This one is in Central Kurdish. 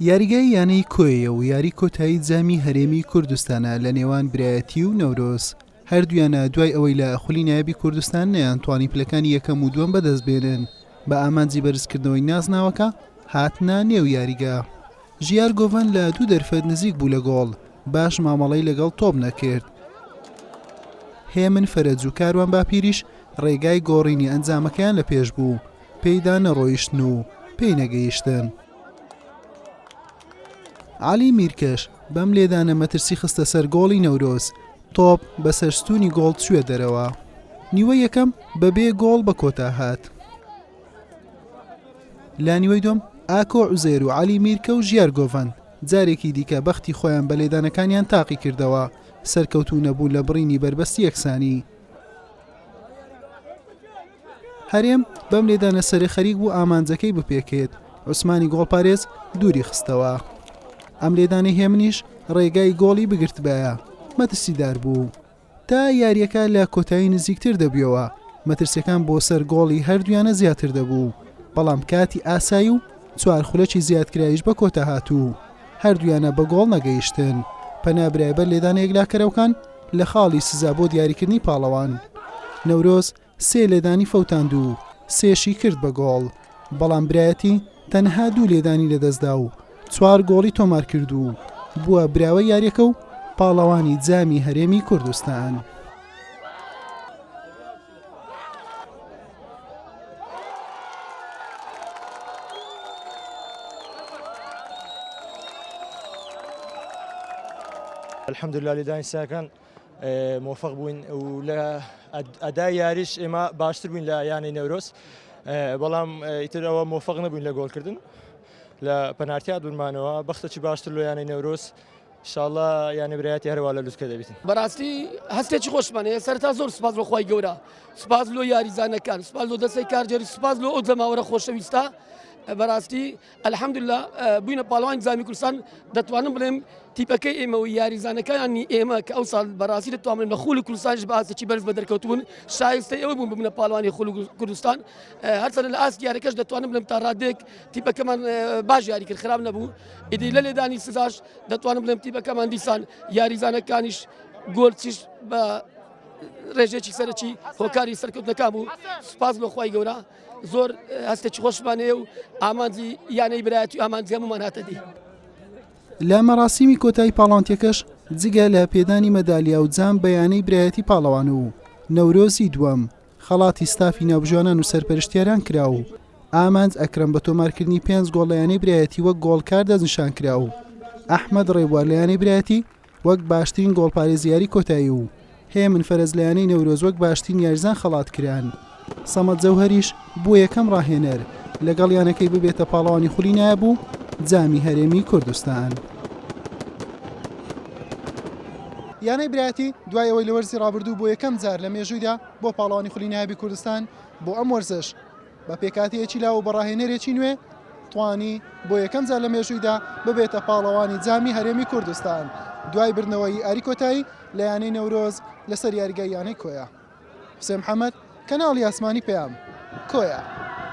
یاریگای یانەی کۆیە و یاری کۆتایی جامی هەرێمی کوردستانە لە نێوان برایەتی و نەورۆز هەردویانە دوای ئەوەی لە خولی نایبی کوردستان نیان توانی پلەکانی یەکەم و دووەم بەدەست بێنن بە ئامانجی بەرزکردنەوەی نازناوەکە هاتنە نێو یاریگە ژیار گۆڤەن لە دوو دەرفەت نزیک بوو لە گۆڵ باش مامەڵەی لەگەڵ تۆپ نەکرد هێمن فەرەج و کاروان باپیریش ڕێگای گۆڕینی ئەنجامەکەیان لە پێش بوو پێیدا نەڕۆیشتن و پێی نەگەیشتن. عەلی میرکەش بەم لێدانە مەترسی خستە سەر گۆڵی نەورۆز، تۆپ بەسەر ستوونی گۆڵ چووە دەرەوە. نیوەی یەکەم بەبێ گۆڵ بە کۆتا هات. لە نیوەی دووەم ئاکۆ عوزێر و عەلی میرکە و ژیار گۆڤەند جارێکی دیکە بەختی خۆیان بە لێدانەکانیان تاقی کردەوە، سەرکەوتوو نەبوون لە بڕینی بەربەستی یەکسانی. هەرێم بەم لێدانە سەرێ خەریک بوو ئامانجەکەی بپێکێت، عوسمانی گۆڵپارێز دووری خستەوە. ئەم لێدانەی هێمنیش ڕێگای گۆڵی بگرتبایە، مەترسیدار بوو. تا یارییەکە لە کۆتایی نزیکتر دەبوویەوە، مەترسییەکان بۆ سەر گۆڵی هەردوویانە زیاتر دەبوو، بەڵام کاتی ئاسایی و چوار خولەکی زیادکراویش بە کۆتا هات و هەردوویانە بە گۆڵ نەگەیشتن. پەنا برای بەر لێدانە یەکلاکەرەوکان لە خاڵی سزا بۆ دیاریکردنی پاڵەوان. نەورۆز سێ لێدانی فەوتاند و سێشی کرد بە گۆڵ، بەڵام برایەتی تەنها دوو لێدانی لەدەستدا و چوار گۆڵی تۆمارکرد و بووە براوەی یارییەکە و پاڵەوانی جامی هەرێمی کوردستان. الحمدللە لێدانی سەیەکان مۆفق بووین و لە ئەدا یاریش ئێمە باشتر بووین لە یانەی نەورۆز بەڵام ئیترەوە مۆفق نەبووین لە گۆڵکردن لە پەنارتیات بنمانەوە بەختەکی باشتر لە یانەی نەورۆز شاڵە یانە برایەتی هەروە لە لوسکە دەبیت بەڕاستی هەستێکی خۆشمانەیە سەرتا زۆر سپاس بۆ خی گەورە سپاس لۆ یاریزانەکان سپاس لۆ دەستی کارجێری سپاس لۆ ئەو جەماوەرە خۆشەویستە بەڕاستی الحمدللە بووینە پاڵەوانی جامی کوردستان دەتوانم بڵێم تیپەکەی ئێمە و یاریزانەکانی ئێمە کە ئەو ساڵ بەڕاستی دەتوانن لە خولی کوردستانش باسێکی بەرز بە دەرکەوتبوون شایستە ئەوە بوون ببنە پاڵوانی خول کوردستان هەرچەنە لە ئاست یاریەکەش دەتوانم بڵێم تا ڕادێک تیپەکەمان باش یاری کرد خراپ نەبوو ئیدی لە لێدانی سزاش دەتوانم بڵێم تیپەکەمان دیسان یاریزانەکانیش گۆلچیش بە ڕێژێکی سەرەکی هۆکاری سەرکەوتنەکە بوو سپاس لەخوای گەورە زۆر هەستێکی خۆشمان هەیە و ئامانجی یانەی برایەتی ئامانجی هەمومان هاتە دی. لە مەراسیمی کۆتایی پاڵانتیەکەش جگە لە پێدانی مەدالیا و جام بەیانەی برایەتی پاڵەوان و نەورۆزی دووەم خەڵاتی ستافی ناوبژانان و سەرپەرشتیاران کرا و ئامانج ئەکرم بە تۆمارکردنی پێنج گۆڵ لە یانەی برایەتی وەک گۆڵکار دەستنیشان کرا و ئەحمد ڕێبوار لە یانەی برایەتی وەک باشترین گۆڵپارێزی یاری کۆتایی و هەیە من فەرەج لە یانەی نەورۆز وەک باشترین یاریزان خەڵات کران. سەمەد جەوهەریش بووە یەکەم راهێنەر لەگەڵ یانەکەی ببێتە پاڵەوانی خولی نایاب و جامی هەرێمی کوردستان. یانەی برایەتی دوای ئەوەی لە وەرزی رابردوو بۆ یەکەم جار لە مێژوویدا بووە پاڵەوانی خولی نایابی کوردستان، بۆ ئەم وەرزەش، بە پێکهاتەیەکی لاو و بە ڕاهێنەرێکی نوێ توانی بۆ یەکەم جار لە مێژوویدا ببێتە پاڵەوانی جامی هەرێمی کوردستان دوای بردنەوەی ئاری کۆتایی لە یانەی نەورۆز لەسەر یاریگای یانەی کۆیە حسێن محەممەد کەناڵی ئاسمانی پەیام کۆیە.